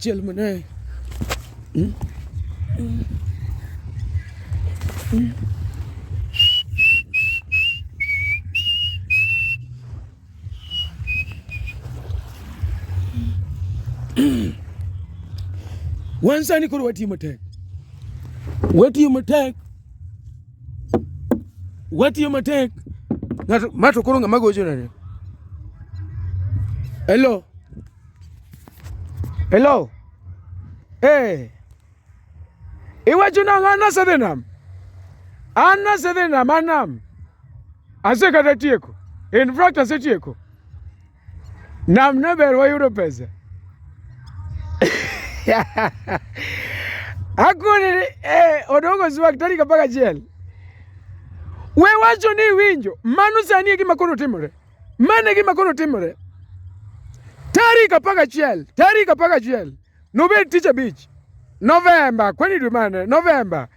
Jël mu ne. wansani koro watiyo matek watiyo matek watiyo matek ng'ato mato koro ng'ama gocho nade hello Hello. Eh. Iwe chuna ngana sedenam. Anna sedenam anam. Ase kata tieko. In fact ase tieko. Nam ne ber wayudo pesa. Hakuna eh, odongo zuwa tarik apar gachiel. We wacho ni iwinjo, mano sani e gima koro timore. Mane gima koro timore. Tarik apar gachiel, tarik apar gachiel nobed tich abich Novemba, kwani dwe mane? Novemba.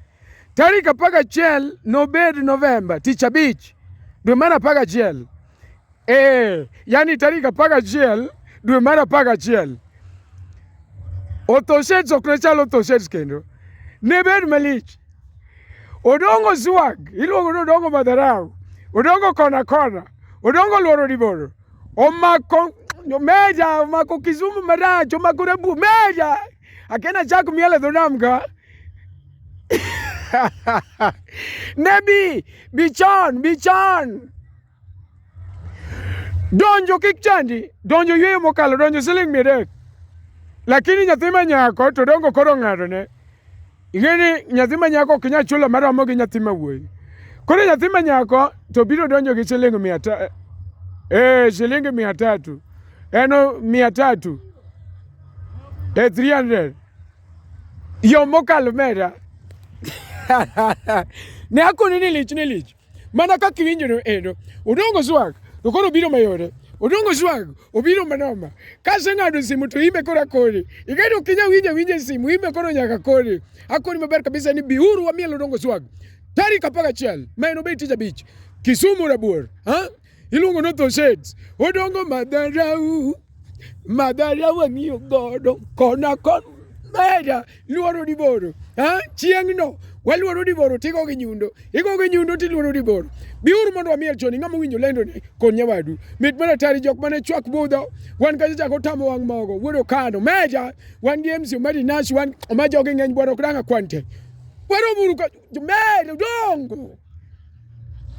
Tarik apar gachiel nobed Novemba, tich abich dwe mar apar gachiel. Eh, yani tarik apar gachiel dwe mar apar gachiel. Otoshets ok ne chal otoshets kendo. Ne bed malich. Odongo swag, iluongo ni odongo madharau, odongo kona kona, odongo lworo liboro, omako meja, omako Kisumu marach, omako rabu meja. Akena chak miel e dho nam ka. Nebi, bichon, bichon. Donjo kik chandi, donjo yweyo mokalo, donjo siling' mia adek. Lakini nyathi ma nyako to dongo koro ng'adone. Ing'e ni nyathi ma nyako ok nyal chulo maromo gi nyathi ma wuoyi. Koro nyathi ma nyako to biro donjo gi siling' mia ta eh, siling' mia tatu eno mia tatu eh, 300 yo mokalo mera ne akoni ni lich ni lich mana ka kiwinjo no endo odongo swag to koro biro mayore odongo swag obiro manoma ka aseng'ado simu to ime koro akoni ing'edo ok inya winja winja simu ime koro nyaka koni akoni maber kabisa ni biuru wamiel odongo swag tarik apar gachiel ma en obed tich abich Kisumu Rabuor ha iluongo ni otho shades odongo madharau madharau ang'iyo godo kona kon mera luoro diboro chieng'no waluoro diboro tigo gi nyundo igo gi nyundo tiluoro diboro biuru mondo wamiel choni ng'ama owinjo lendo ni kod nyawadu mit mana tari jok mane chwak budho wan kacha chako tamo wang' mogo wuodo kano meja wan gi mc omadi nash wan oma jogi ng'eny bwana ok danga kwante wero muru meja dongo